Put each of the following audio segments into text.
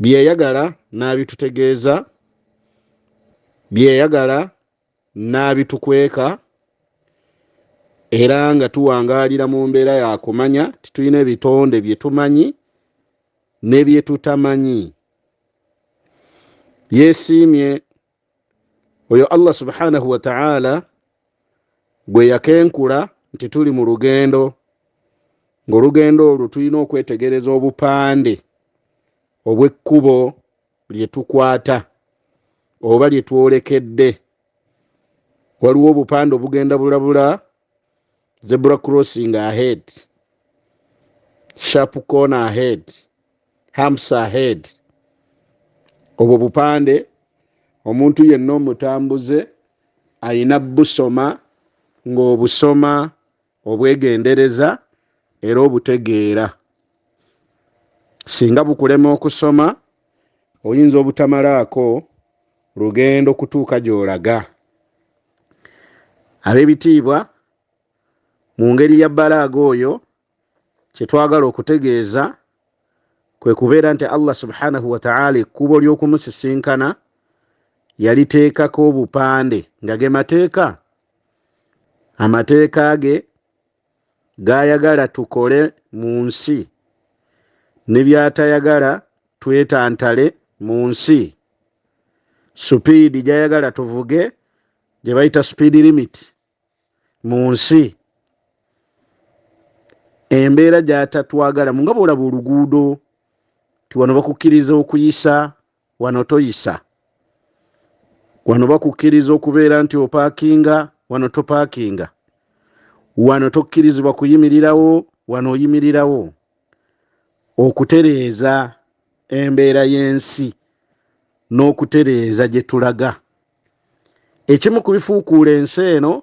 byeyagala n'abitutegeeza byeyagala n'abitukweka era nga tuwangaalira mu mbeera yakumanya titulina ebitonde bye tumanyi ne bye tutamanyi yeesiimye oyo allah subhanahu wataala gwe yakenkula nti tuli mu lugendo ng'olugendo olwo tulina okwetegereza obupande obw'ekkubo lye tukwata oba lye twolekedde waliwo obupande obugenda bulabula zebra crossing ahead sharp corner ahead hamps ahead obwo bupande omuntu yenna omutambuze ayina busoma ng'obusoma obwegendereza era obutegeera singa bukulema okusoma oyinza obutamalaako lugendo kutuuka gy'olaga ab'ebitiibwa mu ngeri ya balaaga oyo kye twagala okutegeeza kwe kubeera nti allah subhanahu wataala ekkubo ly'okumusisinkana yaliteekako obupande nga ge mateeka amateeka ge gayagala tukole mu nsi ne byatayagala twetantale mu nsi supiidi gyayagala tuvuge gye bayita supiidi limit mu nsi embeera gyatatwagalamu nga bwolaba oluguudo ti wano bakukkiriza okuyisa wano toyisa wano bakukkiriza okubeera nti opakinga wano topakinga wano tokkirizibwa kuyimirirawo wano oyimirirawo okutereeza embeera y'ensi n'okutereeza gye tulaga ekimu ku bifuukuula ensi eno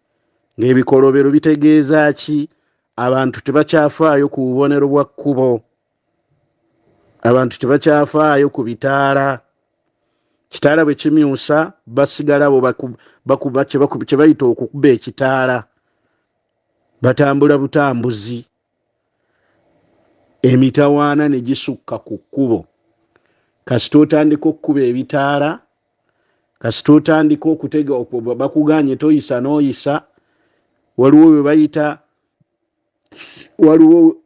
ng'ebikolobero bitegeeza ki abantu tebakyafaayo ku bubonero bwa kkubo abantu tebakyafaayo ku bitaala kitaala bwe kimyusa basigala bo kye bayita okukuba ekitaala batambula butambuzi emitawaana ne gisukka ku kkubo kasita otandika okukuba ebitaala kasita otandika okutega bakuganye toyisa noyisa waliwo webayita waliwo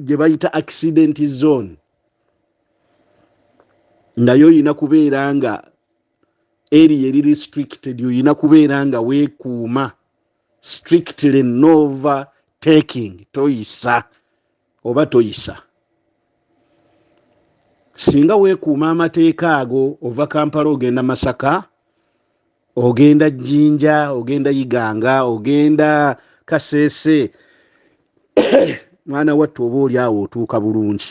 gye bayita accident zone nga yo olina kubeera nga eri eri restricted olina kubeera nga weekuuma strictly nova taking toyisa oba toyisa singa weekuuma amateeka ago ova kampala ogenda masaka ogenda jjinja ogenda yiganga ogenda kaseese mwana wattu oba oli awo otuuka bulungi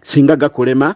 singa gakulema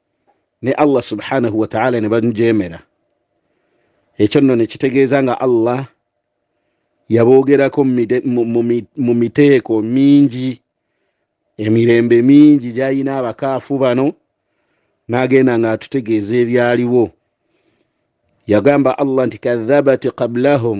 ne allah subhanahu wataala ne bamujeemera ekyo nno ne kitegeeza nga allah yaboogerako mu miteeko mingi emirembe mingi gyalina abakaafu bano n'agenda ng'atutegeeza ebyaliwo yagamba allah nti kadhabat qablahum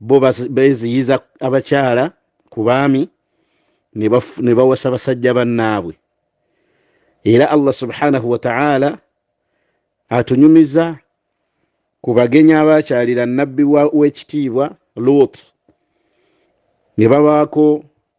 bo beziyiza abakyala ku baami ne bawasa basajja bannaabwe era allah subhanahu wataala atunyumiza ku bagenyi abaakyalira nabbi w'ekitiibwa luutu ne babaako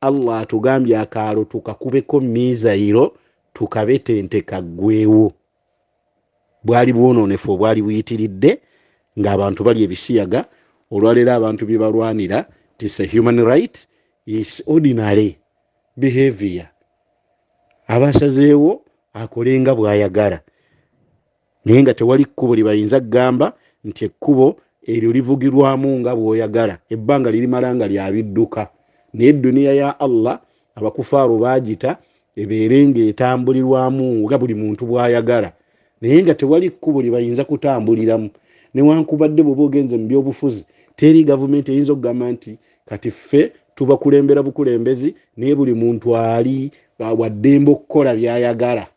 allah atugambye akaalo tukakubeko miizayiro tukabetente kaggwewo bwali bwonoonefu obwali buyitiridde ng'abantu bali ebisiyaga olwaleero abantu bye balwanira tis a human right is ordinary behavior abasazeewo akolenga bw'ayagala naye nga tewali kkubo lye bayinza kugamba nti ekkubo eryo livugirwamu nga bw'oyagala ebbanga lirimala nga lya bidduka naye edduniya ya allah abakufaaru baagita ebeere ng'etambulirwamu nga buli muntu bw'ayagala naye nga tewali kkubo lye bayinza kutambuliramu newankubadde bw'oba ogenze mu byobufuzi teri gavumenti eyinza okugamba nti kati ffe tubakulembera bukulembezi naye buli muntu ali waddembe okukola by'ayagala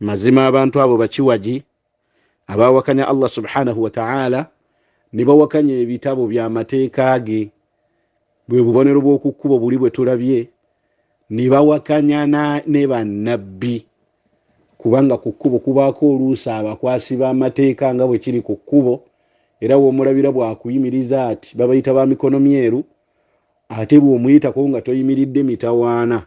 mazima abantu abo bakiwagi abawakanya allah subhanahu wataala ne bawakanya ebitabo byamateeka ge bwe bubonero bw'okukkuba obuli bwe tulabye ne bawakanya ne bannabbi kubanga ku kkubo kubaako oluusi abakwasi b'amateeka nga bwe kiri ku kkubo era w'omulabira bwakuyimiriza ati babayita ba mikono myeru ate bw'omuyitako nga toyimiridde mitawaana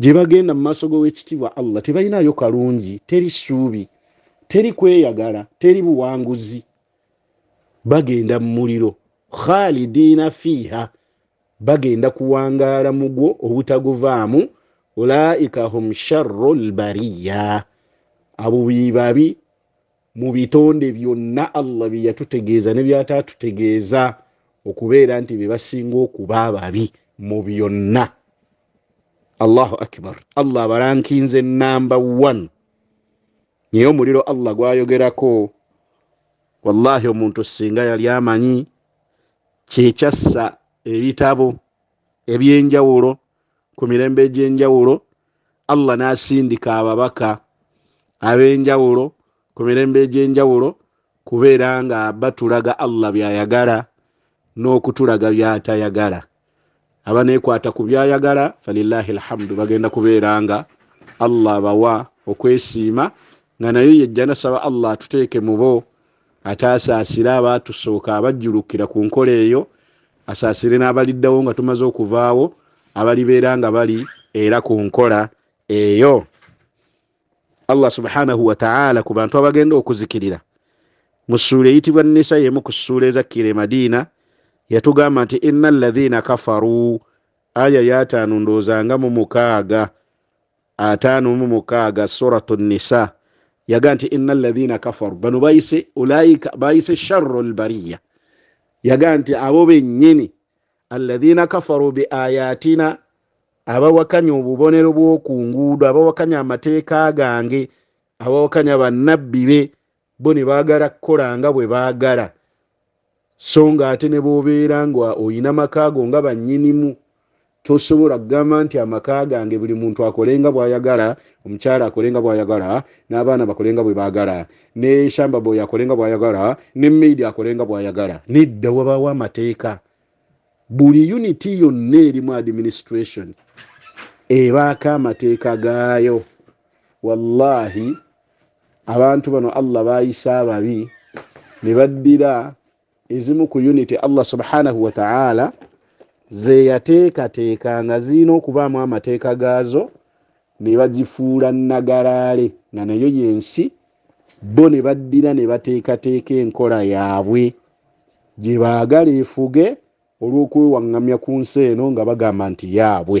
gye bagenda mu maaso g'owekitiibwa allah tebalinayo kalungi teri ssuubi teri kweyagala teri buwanguzi bagenda mu muliro khalidiina fiiha bagenda kuwangaala mugwo obutaguvaamu ulaika hum sharru lbariya abo bebabi mu bitonde byonna allah bye yatutegeeza ne byataatutegeeza okubeera nti be basinga okuba ababi mu byonna allahu akbar allah abalankinze namba one naye omuliro allah gwayogerako wallahi omuntu singa yali amanyi kyekyassa ebitabo ebyenjawulo ku mirembe egy'enjawulo allah n'asindika ababaka ab'enjawulo ku mirembe egy'enjawulo kubeera nga batulaga allah byayagala n'okutulaga byatayagala abanekwata ku byayagala falilahi lhamdu bagenda kubeera nga allah bawa okwesiima nga nayo yejja nasaba allah atuteeke mubo ate asaasire abaatusooka abajjulukkira ku nkola eyo asaasire n'abaliddawo nga tumaze okuvaawo abalibeera nga bali era ku nkola eyo allah subhanahu wataala ku bantu abagenda okuzikirira mu ssuula eyitibwa nisa yemu ku ssuula ezakkira e madiina yatugamba nti ina alladhina kafaru aya yataano ndoozanga mu mukaaga ataano mu mukaaga suratu nisa yaga nti ina alladhina kafaru bano bayise ulaika bayise sharru lbariya yaga nti abo bennyini alladhina kafaru biayatina abawakanya obubonero bw'oku nguudo abawakanya amateeka gange abawakanya bannabbi be bo ne baagala kukola nga bwe baagala so ng'ate ne b'obeera nga olina maka go nga bannyinimu tosobola kugamba nti amaka gange buli muntu akole nga bw'ayagala omukyala akole nga bw'ayagala n'abaana bakole nga bwe baagala ne shamba boy akole nga bw'ayagala ne maid akole nga bw'ayagala nedda wabaawo amateeka buli uniti yonna erimu administration ebaako amateeka gaayo wallahi abantu bano allah bayisa ababi ne baddira ezimu ku unity allah subhanahu wataala zeyateekateeka nga zirina okubaamu amateeka gaazo ne bagifuula nagalaale nga nayo yensi bo ne baddira ne bateekateeka enkola yaabwe gye baagala efuge olw'okwewaŋŋamya ku nsi eno nga bagamba nti yaabwe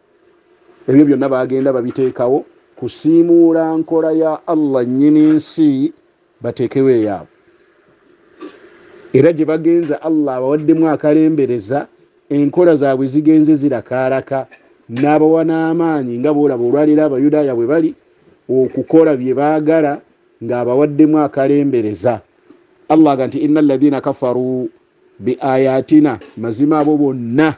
ebyo byonna bagenda babiteekawo kusiimuula nkola ya allah nyini nsi bateekewo eyaabwe era gye bagenza allah abawaddemu akalembereza enkola zaabwe zigenze zirakaalaka n'abawa n'amaanyi nga boolaba olwaleero abayudaaya bwe bali okukola bye baagala ng'abawaddemu akalembereza allah aga nti inna alladhina kafaru bi ayatina mazima abo bonna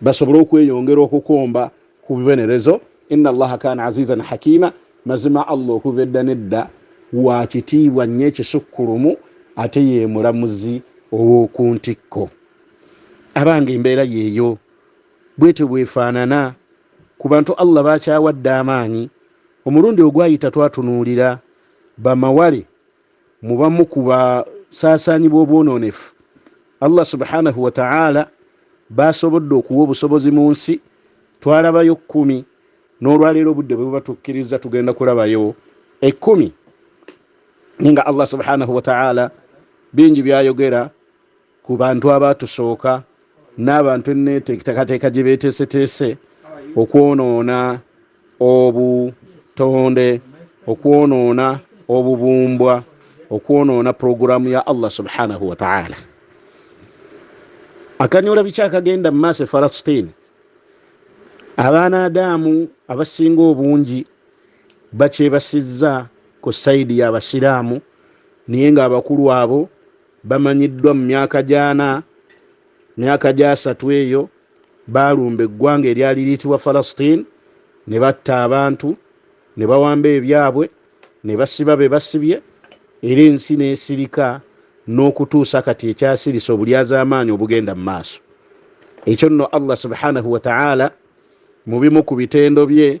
basobole okweyongera okukomba ku bibonerezo ina allaha kana azizan hakima mazima allah okuva edda nedda wa kitiibwa nnyo ekisukkulumu ate ye mulamuzi ow'oku ntikko abange embeera yeeyo bwetyo bwefaanana ku bantu allah bakyawadde amaanyi omulundi ogwayita twatunuulira bamawale mu bamu ku basaasaanyi b'obwonoonefu allah subhanahu wataala baasobodde okuwa obusobozi mu nsi twalabayo kkumi n'olwaleero obudde bwe bubatukkiriza tugenda kulabayo ekkumi naye nga allah subhanahu wataala bingi byayogera ku bantu abaatusooka n'abantu enneeteekateeka gye beeteeseteese okwonoona obutonde okwonoona obubumbwa okwonoona pulogulaamu ya allah subhanahu wataala akanyula biki akagenda mu maaso efalasitiini abaana adaamu abasinga obungi bakyebasizza ku sayidi y'abasiraamu naye ng'abakulu abo bamanyiddwa mu myaka gyana myaka gyasatu eyo baalumba eggwanga eryali liyitibwa falastin ne batta abantu ne bawamba ebyabwe ne basiba be basibye era ensi n'esirika n'okutuusa kati ekyasirise obulyazaamaanyi obugenda mu maaso ekyo nno allah subhanahu wataala mu bimu ku bitendo bye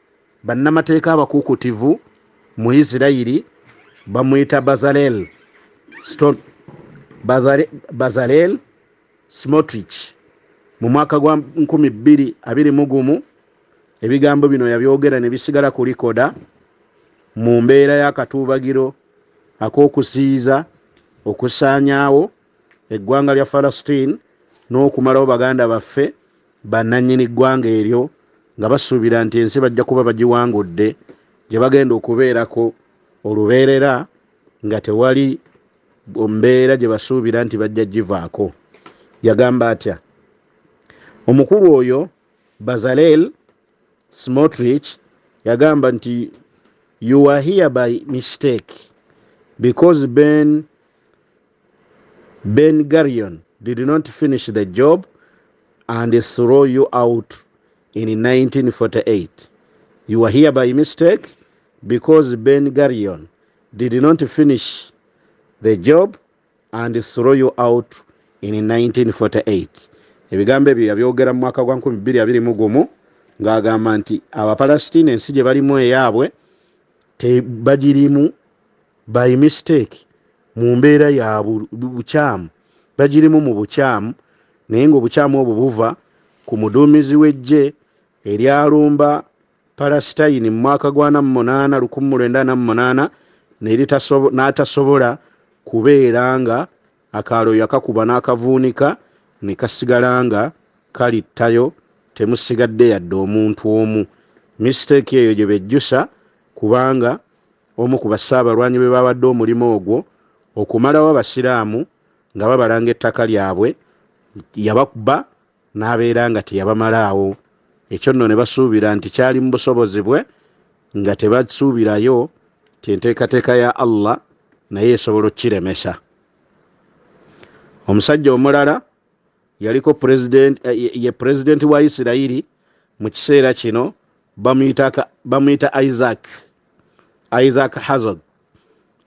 Bannamateeka abakuukutivu mu Isirayiri bamuyita Bazalel Bazalel Smotrich mu mwaka gwa 2021 ebigambo bino yabyogera ne bisigala ku likoda mu mbeera y'akatuubagiro ak'okusiiza okusaanyaawo eggwanga lya falastin n'okumalawo baganda baffe bannannyini ggwanga eryo nga basuubira nti ensi bajja kuba bagiwangudde gye bagenda okubeerako olubeerera nga tewali mbeera gye basuubira nti bajja givaako yagamba atya omukulu oyo bazalel smotrich yagamba nti you are here by mistake because ben Ben Gurion did not finish the job and throw you out in 1948. You were here by mistake because Ben Gurion did not finish the job and throw you out in 1948. Ebigambo ebyo yabyogera mu mwaka gwa 2021 ng'agamba nti Abapalestina ensi gye balimu eyaabwe tebagirimu by mistake mu mbeera ya bukyamu bagirimu mu bukyamu naye ngaobukyamu obwo buva ku muduumizi w'eggye eryalumba palasitayini mu mwaka gwa namu munaana lukumi mu lwenda namu munaana n'atasobola kubeera nga akaalo yakakuba n'akavuunika ne kasigala nga kalittayo temusigadde yadde omuntu omu misiteeki eyo gye bejjusa kubanga omu ku bassaabalwanyi bwe baawadde omulimu ogwo okumalawo Abasiraamu nga babalanga ettaka lyabwe yabakba n'abeera nga teyabamalaawo ekyo nno ne basuubira nti kyali mu busobozi bwe nga tebasuubirayo ti enteekateeka ya Allah naye esobola okukiremesa omusajja omulala yaliko president eh, ye president wa isirayiri mu kiseera kino bamuyita isaac isaac hazard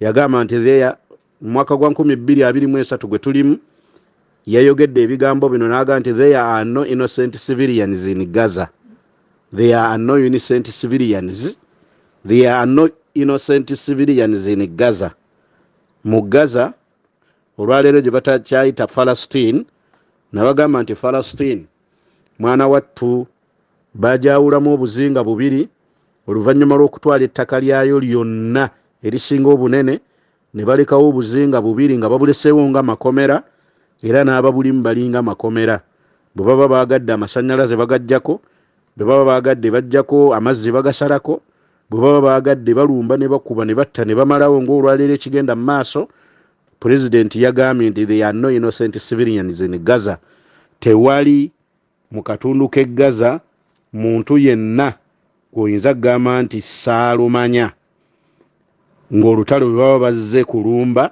yagamba nti theya mu mwaka gwa 223 gwe tulimu yayogedde ebigambo bino naga nti there are no innocent civilians in gaza there are no innocent civilians there are no innocent civilians in gaza mu gaza olwaleero gye batakyayita falastin nabagamba nti falastin mwana wattu bajawulamu obuzinga bubiri oluvannyuma lw'okutwala ettaka lyayo lyonna erisinga obunene ne balekawo obuzinga bubiri nga babuleseewo nga makomera era n'ababulimu balinga makomera bwe baba baagadde amasannyalaze bagajjako bwe baba baagadde bajjako amazzi bagasalako bwe baba baagadde balumba ne bakuba ne batta ne bamalawo ng'olwaleero ekigenda mu maaso pulezidenti yagambye nti they are no innocent civilians in gaza tewali mu katundu k'e gaza muntu yenna gweoyinza kugamba nti saalumanya ng'olutalo bwe baba bazze kulumba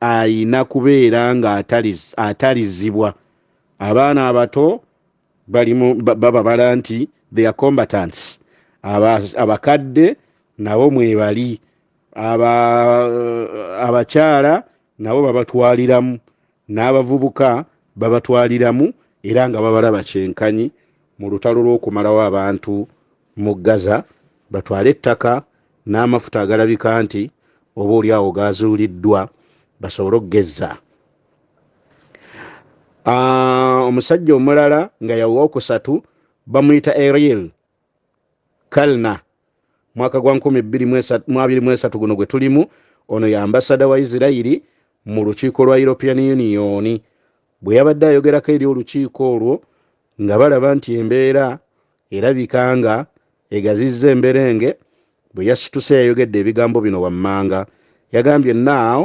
ayina kubeera ng'atalizibwa abaana abato balimu bababala nti they are combatants abakadde nabo mwebali abakyala nabo babatwaliramu n'abavubuka babatwaliramu era nga babalaba kyenkanyi mu lutalo lw'okumalawo abantu mu gaza batwale ettaka n'amafuta agalabika nti oba oli awo gaazuuliddwa basobole okugezza ah, omusajja omulala nga yawokusatu bamuyita ariel kalna mwaka gwa 223 guno gwe tulimu ono ye ambasada wa isirairi mu lukiiko lwa european union bwe yabadde ayogerako eri olukiiko olwo nga balaba nti embeera erabika nga egazizza emberenge bwe yasituse yayogedde ebigambo bino wammanga yagambye naawo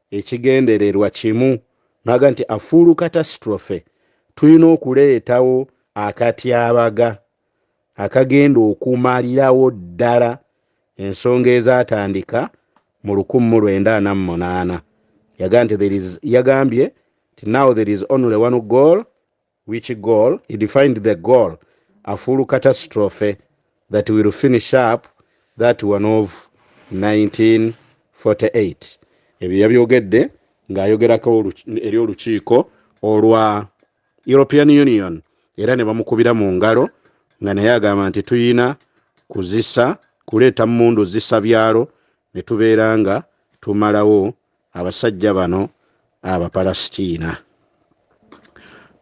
ekigendererwa kimu naga nti a full catastrophe tulina okuleetawo akatyabaga akagenda okumalirawo ddala ensonga ezatandika mu lukumi mu lwenda ana mu munaana yagambye nti now there is only one goal Which goal? He defined the goal, a full catastrophe that will finish up that one of 1948. Ebyo yabyogedde ng'ayogerako eri olukiiko olwa European Union era ne bamukubira mu ngalo nga naye agamba nti tuyina kuzisa kuleeta mmundu zisa byalo ne tubeera nga tumalawo abasajja bano abapalasitiina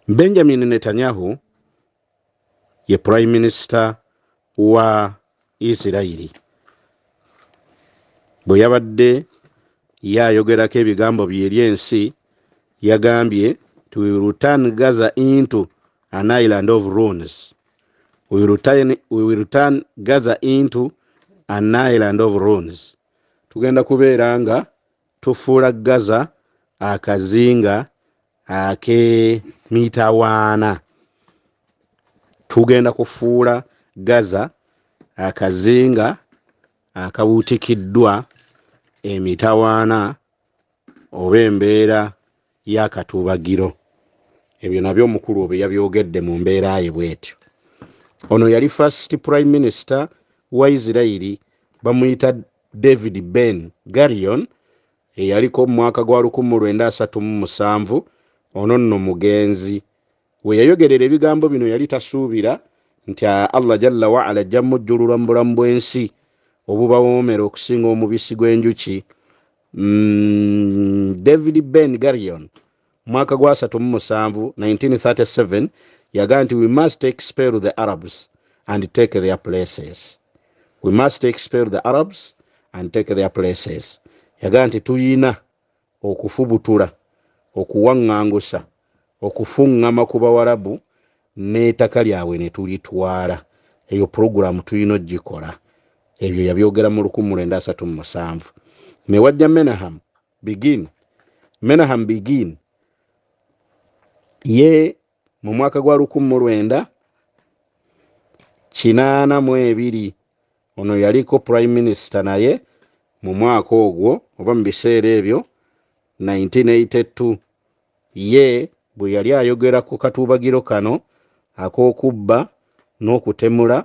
benjamin netanyahu ye prime minister wa isirairi bwe yabadde yayogerako ebigambo bye eri ensi yagambye ti we return gaza into an island of runes we return, we return gaza into an island of runes Tugenda kubeera nga tufuula Gaza akazinga ak'emitawaana. Tugenda kufuula Gaza akazinga akabuutikiddwa emitawaana oba embeera y'akatuubagiro ebyo nabyo omukulu obyo yabyogedde mu mbeera ye bwetyo ono yali first prime minister wa isirairi bamuyita david ben garion eyaliko mu mwaka gwa 1937 ono nno mugenzi we yayogerera ebigambo bino yali tasuubira nti allah jalla waala ajja mujjululwa mu bulamu bw'ensi obubawoomera okusinga omubisi gw'enjuki mm, david ben garion mwaka gwa 37 1937 yagaa nti we must expel the arabs and take their places we must expel the arabs and take their places yagaa nti tuyina okufubutula okuwaŋŋangusa okufungama ku bawarabu netaka lyabwe netulitwala eyo program tuyina ojikola ebyo yabyogera mu lukumu lwenda asatu mu musanvu newajja menaham begin menaham begin ye mu mwaka gwa lukumu lwenda kinaana mu ebiri ono yaliko prime minister naye mu mwaka ogwo oba mu biseera ebyo 1982 Ye bwe yali ayogera ku katuubagiro kano ak'okubba n'okutemula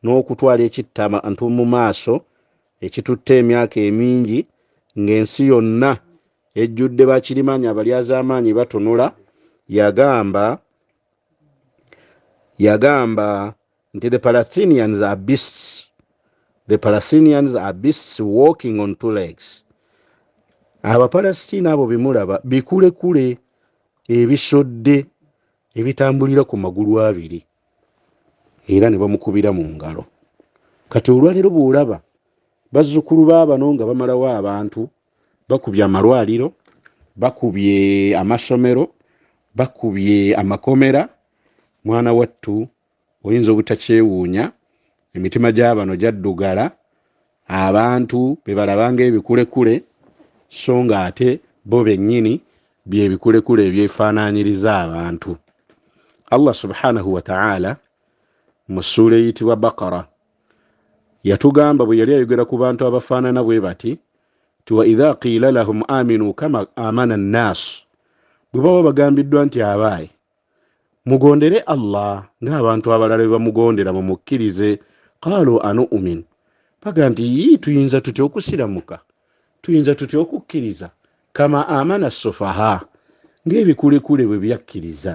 n'okutwala ekittabantu mu maaso ekitutte emyaka emingi ng'ensi yonna ejjudde bakirimaanyi abalyazaamaanyi batunula, yagamba, yagamba nti the palestinians are beasts the palestinians are beasts walking on two legs abapalestina abo bemulaba bikulekule ebisodde ebitambulira ku magulu abiri era ne bamukubira mu ngalo kati olwaleero bwolaba bazzukulu baabano nga bamalawo abantu bakubye amalwaliro bakubye amasomero bakubye amakomera mwana wattu Oyinza obutakyewuunya, emitima gya bano gyaddugala abantu be balaba ng'ebikulekule so ng'ate bo bennyini bye bikulekule ebyefaanaanyiriza abantu. Allah subhanahu wa ta'ala mu ssuula eyitibwa Bakara yatugamba bwe yali ayogera ku bantu abafaanana bwe bati ti wa idha qiila lahum aminu kama amana nnaasu bwe baba bagambiddwa nti abaayi mugondere allah ng'abantu abalala bwe bamugondera mumukkirize qaalu anu'umin baga nti yii tuyinza tutya okusiramuka tuyinza tutya okukkiriza kama amana sufaha ng'ebikulekule bwe byakkiriza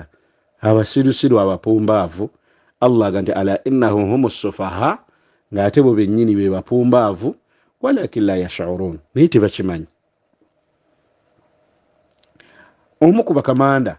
abasirusiru abapumbaavu allah aga nti ala innahu humu sufaha ng'ate bo bennyini be bapumbaavu walakin la yashurun naye tebakimanyi omu ku bakamanda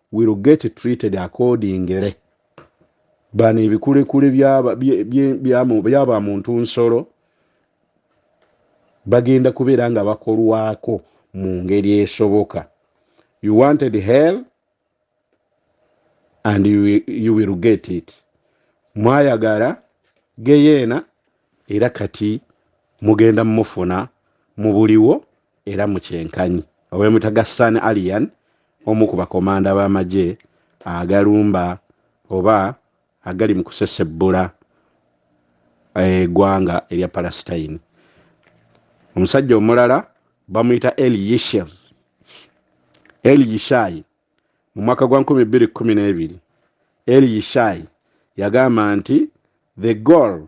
will get treated accordingly bano ebikulekule byaba muntu nsolo bagenda kubeera nga bakolwako mu ngeri esoboka you wanted hell and you, you will get it mwayagala geyeena era kati mugenda mufuna mu buliwo era mu kyenkanyi owemutaga san alian omu ku bakomanda b'amagye agalumba oba agali mu kusesebbula eggwanga eh, erya palestine omusajja omulala bamuyita el yisher el yishai mu mwaka gwa 212 el yishai yagamba nti the goal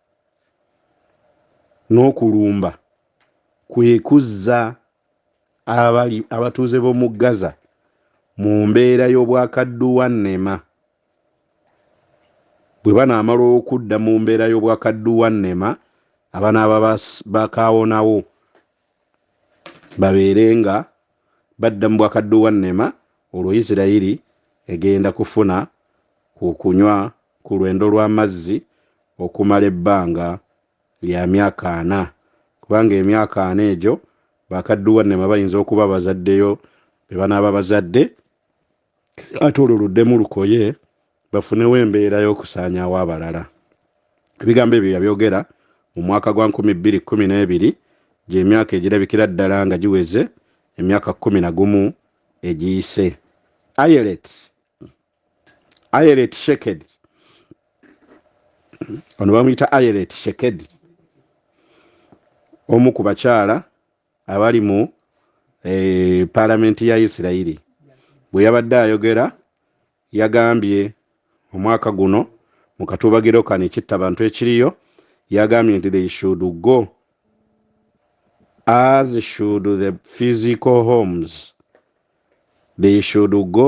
n'okulumba kwe kuzza abali abatuuze b'omu Gaza mu mbeera y'obwakadduwannema bwe banaamala okudda mu mbeera y'obwakadduwannema abanaaba bakaawonawo babeere nga badda mu bwakadduwannema olwo Isirayiri egenda kufuna ku kunywa ku lwendo lw'amazzi okumala ebbanga lya myaka ana kubanga emyaka ana egyo bakadduwannema bayinza okuba bazaddeyo be banaaba bazadde ate olwo luddemu lukoye bafunewo embeera y'okusaanyaawo abalala ebigambo ebyo yabyogera mu mwaka gwa 212 gy'emyaka egirabikira ddala nga giweze emyaka 1 na gumu egiyise ayelet ayeret shekedi ono bamuyita ayeret shekedi omu ku bakyala abali mu eh, palamenti ya isirairi bwe yabadde ayogera yagambye omwaka guno mu katubagiro kano ekitta bantu ekiriyo yagambye nti they should go as should the physical homes they should go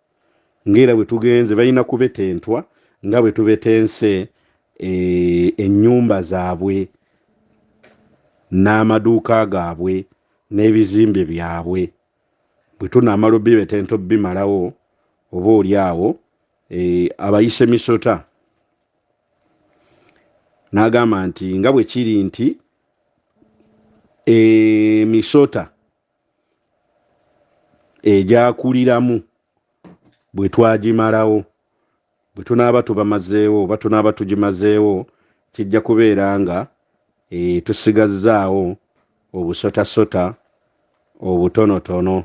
ng'era bwe tugenze balina kubetentwa nga bwe tubetense e, ennyumba zaabwe n'amaduuka gaabwe n'ebizimbe byabwe bwe tunaamala obibetenta obimalawo oba oli awo e, abayise misota n'agamba nti nga bwe kiri nti emisota eh, egyakuliramu bwe twagimalawo bwe tunaaba tubamazeewo oba tunaaba tugimazeewo kijja kubeera nga e, tusigazzaawo obusotasota obutonotono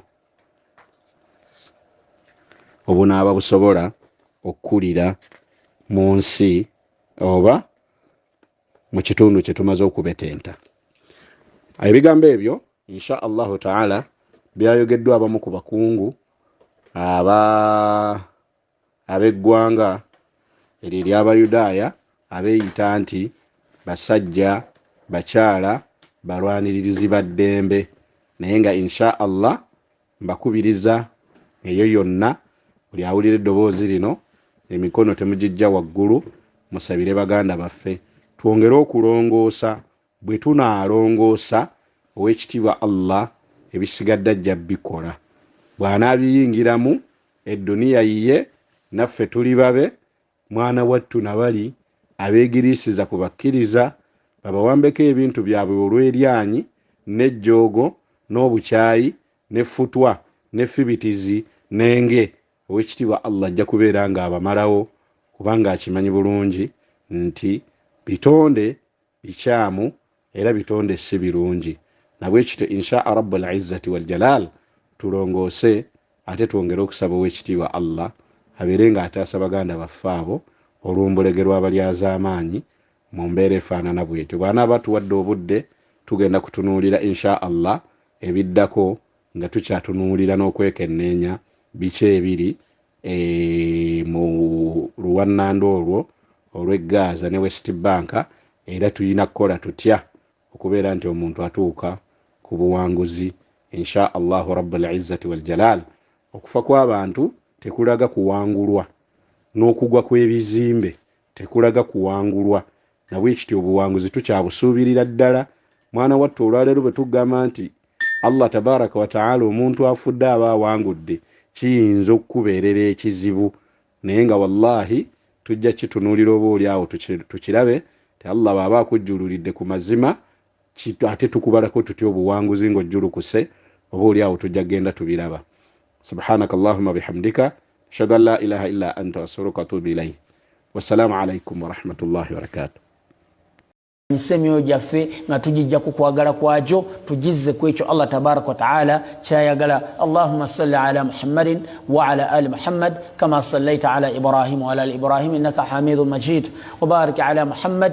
obunaaba busobola okukulira mu nsi oba mu kitundu kye tumaze okubetenta ebigambo ebyo insha allahu taala byayogeddwa abamu ku bakungu aba ab'eggwanga eryo ery'abayudaaya abeeyita nti basajja bakyala balwaniririzi ba ddembe naye nga insha allah Mbakubiriza eyo yonna buli awulira eddoboozi lino, emikono temugiggya waggulu, musabire baganda baffe, twongere okulongoosa, bwe tunaalongoosa, Ow'ekitiibwa Allah ebisigadde ajja bikola, bw'anaabiyingiramu, edduniya yiye, naffe tuli babe, Mwana wattu na bali abeegiriisiza ku bakkiriza, babawambeko ebintu byabwe olw'eryanyi, n'ejjoogo, n'obukyayi, n'effutwa, n'effibitizi, n'enge, Ow'ekitiibwa Allah ajja kubeera nga abamalawo, kubanga akimanyi bulungi nti bitonde bikyamu era bitonde ssi birungi nabwekityo inshaa rabbul izzati wal jalaal tulongoose ate twongere okusaba owekitiibwa Allah abeere nga ataasa baganda baffe abo olw'ombulege lw'abalyazaamaanyi mu mbeera efaanana bwetyo bwanaaba atuwadde obudde tugenda kutunuulira inshaa Allah ebiddako nga tukyatunuulira n'okwekenneenya biki ebiri e, mu luwannanda olwo olw'e gaaza ne west banka era tulina kukola tutya okubeera nti omuntu atuuka ku buwanguzi insha allahu rabulizzati waljalal okufa kw'abantu tekulaga kuwangulwa n'okugwa kw'ebizimbe tekulaga kuwangulwa nabwekityo obuwanguzi tukyabusuubirira ddala mwana wattu olwaleero bwe tugamba nti allah tabaraka wataala omuntu afudde aba awangudde kiyinza okukubeerera ekizibu naye nga wallahi tujja kitunuulira oba oli awo tukirabe ti allah bwaba akujjululidde ku mazima Kit ate tukubalako tutya obuwanguzi nga ojjulukuse oba oli awo tujja genda tubiraba subhanaka allahuma bihamdika ashhadu an la ilaha illa anta astaghfiruka wa atubu ilai wassalamu alaikum warahmatullahi wabarakatuh nsi emyoyo gyaffe nga tugijja ku kwagala kwagyo tugizze ku ekyo allah tabaraka wataala kyayagala allahuma salli ala muhammadin waala ali muhammad kama sallaita ala ibrahim waala ali ibrahim innaka hamidu majid wabarik ala muhammad